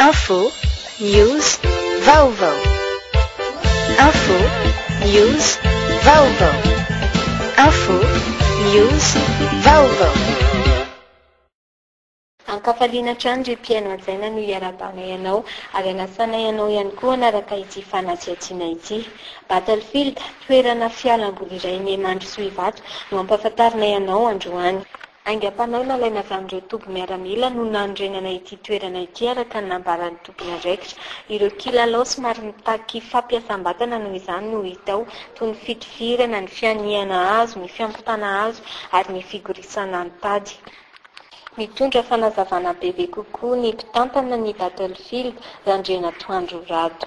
Info, news, vaovao. Info, news, vaovao. Info, news, vaovao. Ankafaliana hatrany ry mpihaino hajaina no iarahabanay anao ary anasanay anao ihany koa hanaraka ity fanatsiatsiana ity. Battlefield, toerana fialamboly iray miha mandrosoa ivato no ampahafantarinay anao androany. Aingam-panahy nalaina avy amin'ireo toby miaramila no nanorenana ity toerana ity araka ny nambaran'ny tompon'andraikitra. Ireo kilalao somary mitaky fampiasam-batana noho izany no hita ao, toy ny fitifirana, ny fihanihana hazo, ny fiampitana hazo ary ny figorisana an-tady. Mitondra fanazavana bebe kokoa ny mpitantana ny Battlefield, Randrianatoandro Rado.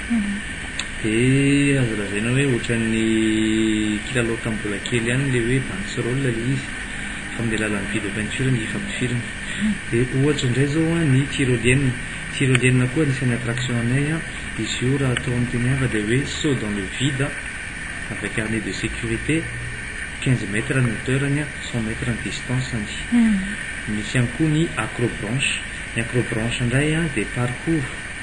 Dia azo lazaina hoe ohatran'ny kilalao tamin'ny mbola kely ihany ilay hoe bandes rolls ilay izy fa amin'ny alalan'ny video peinture no hifampifirina. Dia ohatra indray izao an, ny tyrolienne. Tyrolienne koa anisan'ny attraction anay an, izy io raha atao amin'ny teny hafa dia hoe saut dans le vide avec harnais de sécurité, quinze mètres ny hauteur-ny an, cent mètres ny distance-ny. Misy ihany koa ny acrobranche. Ny acrobranche indray an dia parcours.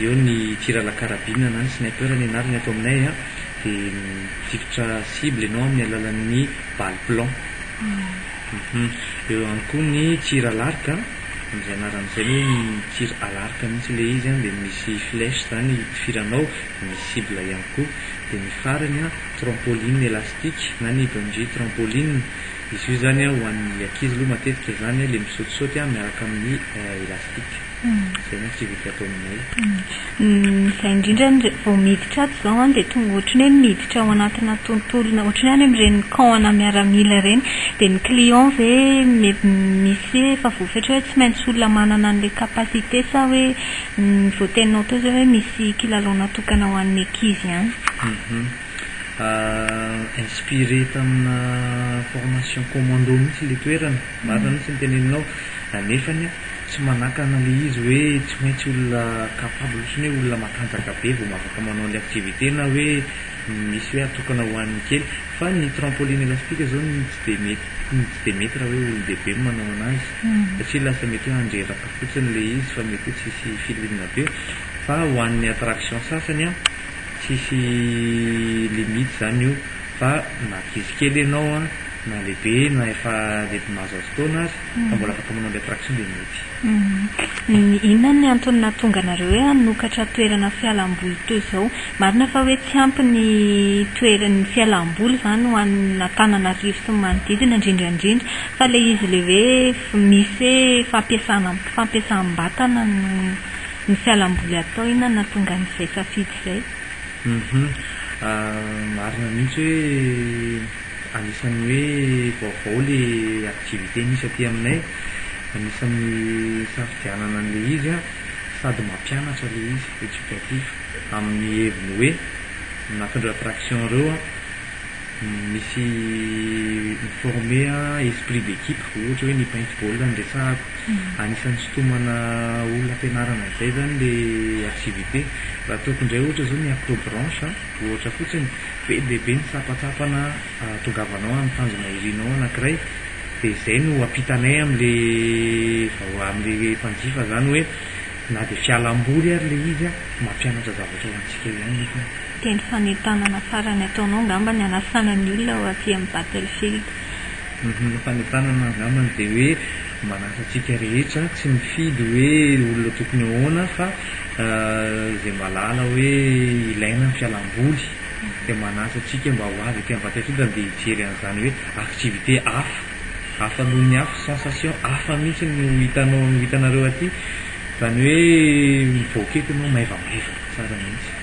Eo ny tir à la carabine na ny sniper ny anarany ato aminay an, dia mifikitra cible ianao amin'ny alalan'ny balle plomb. Eo ihany koa ny tir à l'arc an, amin'izay anarany izay na hoe ny tir à l'arc mihitsy ilay izy an, dia misy flèche izany itifiranao dia misy cible ihany koa. Dia ny farany an, trampoline élastique na ny bungee trampoline, izy io izany an ho an'ny ankizy aloha matetika izany an, ilay misaotisaoty an miaraka amin'ny élastique. Izay no activité atao aminay. Izay indrindra ny vao miditra ato izao dia tonga ohatran'ny hoe miditra ao anatina tontolona ohatran'ny hoe any amin'ireny camp ana miaramila ireny. Dia ny client ve misy hoe efa voafetra hoe tsy maintsy olona manana an'ilay capacité sa hoe ny voateninao teo izay hoe misy kilalao natokana ho an'ny ankizy ihany? Inspiré tamina formation commando mihitsy ilay toerana. Marina mihitsy ny teneninao nefany tsy manakana le izy hoe tsy maintsy olona capable sy ny hoe olona matanjaka be vao afaka manao anle activité na hoe misy hoe atokana ho an'ny kely fa ny trampoline elastique zao ny tsy de mety ny tsy de mety raha hoe olon-dehibe no manao anazy satria lasa mety hoe handreraka fotsiny le izy fa mety hoe tsisy filinina be fa ho an'ny attraction sasany an tsisy limite zany io fa na ankizy kely ianao an Na lehibe na efa lehibe mahazo azy taona aza, fa mbola afaka manao an'ilay traction dia mety. Inona ny antony nahatonga anareo hoe hanokatra toerana fialam-boly toy izao? Marina fa hoe tsy ampy ny toerana, ny fialam-boly izany ho an'Antananarivo sy ny manodidina indrindra indrindra, fa ilay izy ilay hoe misy hoe fampiasana, fampiasam-batana no ny fialam-boly atao, inona no nahatonga an'izay safidy izay? Marina mihitsy hoe. Anisan'ny hoe vaovao le activité misy aty aminay, anisan'ny nisafidianana an'le izy an, sady mampianatra le izy, éducatif, amin'ny heviny hoe anatin'ireo attraction ireo an, misy mi-former esprit d'équipe, ohatra hoe ny paintball no resahako, anisan'ny sintomana olona ampianarana an'izay zany le activité, raha ataoko indray ohatra zao ny acrobranche an, ohatra fotsiny, Be dia be ny tsapatsapana ahatongavanao amin'ny tanjona irinao anankiray dia izay no ampitanay amin'ilay amin'ilay mpanjifa izany hoe na dia fialamboly ary ilay izy mampianatra zavatra ho antsika ihany nefa ny. Teny fanentanana farany ataonao angamba ny hanasana ny olona ho aty amin'ny Battlefield. Ny fanentanana angambany dia hoe. Manasa antsika rehetra tsy mifidy hoe olona tokony ahoana fa izay mahalala hoe ilaina ny fialam-boly dia manasa antsika mba ho avy aty Ambatondrodana dia hijery an'izany hoe activité hafa, hafa noho ny hafa, sensation hafa mihitsy no ho hitanao, no ho hitanareo aty, izany hoe mivoaka eto ianao maivamaivana tsara mihitsy.